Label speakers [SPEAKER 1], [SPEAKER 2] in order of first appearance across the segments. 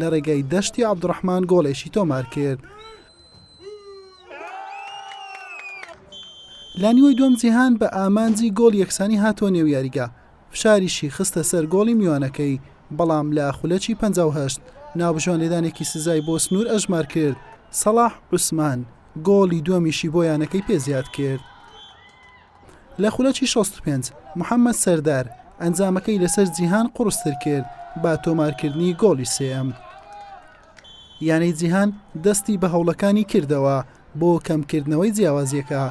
[SPEAKER 1] لە ڕێگای دەشتی عەبدوڕەحمان گۆڵێکی تۆمار کرد. لە نیوەی دووەم جیهان بە ئامانجی گۆڵ یەکسانی هاتووە نێو یاریگا، فشاریشی خستە سەر گۆڵی میوانەکەی، بەڵام لە خولەکی پەنجا و هەشت ناوبژیوان لێدانێکی سزای بۆ سنوور ئەژمار کرد، سەڵاح عوسمان گۆڵی دووەمیشی بۆ یانەکەی پێ زیاد کرد. لە خولەکی شەست و پێنج محەمەد سەردار ئەنجامەکەی لەسەر جیهان قوڕستر کرد بە تۆمارکردنی گۆڵی سێەم یانەی جیهان دەستی بە هەوڵەکانی کردەوە بۆ کەمکردنەوەی جیاوازیەکە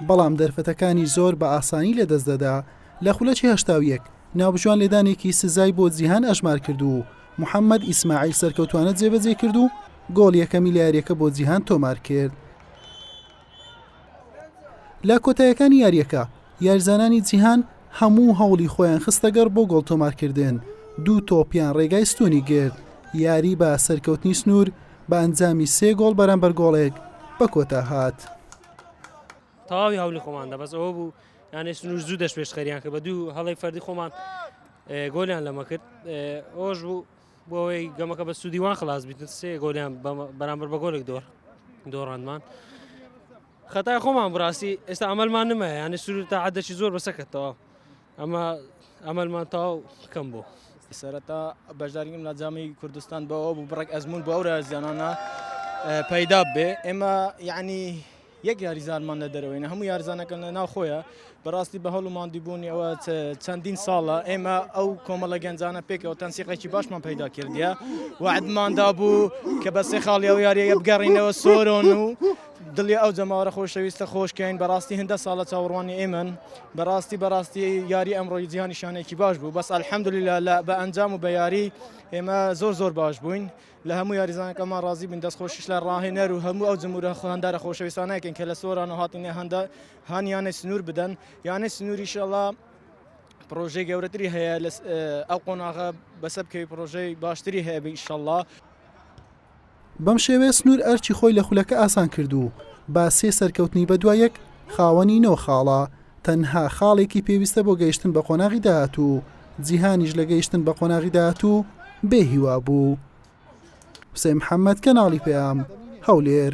[SPEAKER 1] بەڵام دەرفەتەکانی زۆر بە ئاسانی لە دەست دەدا لە خولەکی هەشتا و یەک ناوبژوان لێدانێکی سزای بۆ جیهان ئەژمار کرد و محەممەد ئیسماعیل سەرکەوتوانە جێبەجێ کرد و گۆڵ یەکەمی لە یاریەکە بۆ جیهان تۆمار کرد لە کۆتایەکانی یاریەکە یارزانانی جیهان هەموو هەوڵی خۆیان خستەگەڕ بۆ گۆڵ تۆمارکردن دوو تۆپیان ڕێگای ستونی گرت یاری بە سەرکەوتنی سنوور بە ئەنجامی سێ گۆڵ بەرامبەر گۆڵێک بە کۆتا هات
[SPEAKER 2] تەواوی هەولی خۆمان دەبەس ئەوە بوو یانێ سنوور زوو دەش پێشخەریان کە بە دوو هەڵی فەردی خۆمان گۆلیان لەمە کرد ئەوش بوو بۆ ئەوەی گەمەکە بە سوودی وان خلاص بیت سێ گۆلیان بەرامبەر بە گۆلێک دۆر دۆڕاندمان خەتای خۆمان بڕاستی ئێستا ئەمەلمان نمە یانە سوور تا عادەشی زۆر بەسەکەتەوە ئەمە ئەمەلمان تاو کەم بوو سەرەتا
[SPEAKER 3] بەشداریم لە جامی کوردستان بەەوە بوو بڕێک ئەزمون بۆ ئەورە زیانانە پەیدا بێ ئێمە یعنی یەک یاریزانمان لە دەرەوەی نە هەموو یارزانەکە لە ناوخۆیە بەڕاستی بە هەڵ و ماندیبوونی ئەوە چەندین ساڵە ئێمە ئەو کۆمەڵە گەنجانە پێکەوە تەنسیقێکی باشمان پەیدا کردە وعدماندا بوو کە بە سێ خاڵی ئەو یاریە بگەڕینەوە سۆرۆن و دڵی ئەو جەماوەرە خۆشەویستە خۆشکەین بەڕاستی هەندە ساڵە چاوەڕوانی ئێمن بەڕاستی بەڕاستی یاری ئەمڕۆی جیهانیشانێکی باش بوو بەس ئەلحەمدلی لە بە ئەنجام و بە یاری ئێمە زۆر زۆر باش بووین لە هەموو یاریزانەکەمان ڕازی بووین، دەستخۆشیش لە ڕاهێنەر و هەموو ئەو جموورە هاندارە خۆشەویستانە دەکەین کە لە سۆرانۆ هاتوونە هاندان، هان یانەی سنوور بدەن، یانەی سنوور ئیشەڵڵا پڕۆژەی گەورەتری هەیە لە ئەو قۆناغە بەسەر بکەوی پڕۆژەی باشتری هەیە ئیشەڵڵا.
[SPEAKER 1] بەم شێوەیە سنوور ئەرکی خۆی لە خولەکە ئاسان کرد و با سێ سەرکەوتنی بەدوای یەک خاوەنی نۆ خاڵە. تەنها خاڵێکی پێویستە بۆ گەیشتن بە قۆناغی داهاتوو، جیهانیش لە گەیشتن بە قۆناغی داهاتوو بێ هیوا بوو. حوسێن محەممەد، کەناڵی پەیام، هەولێر.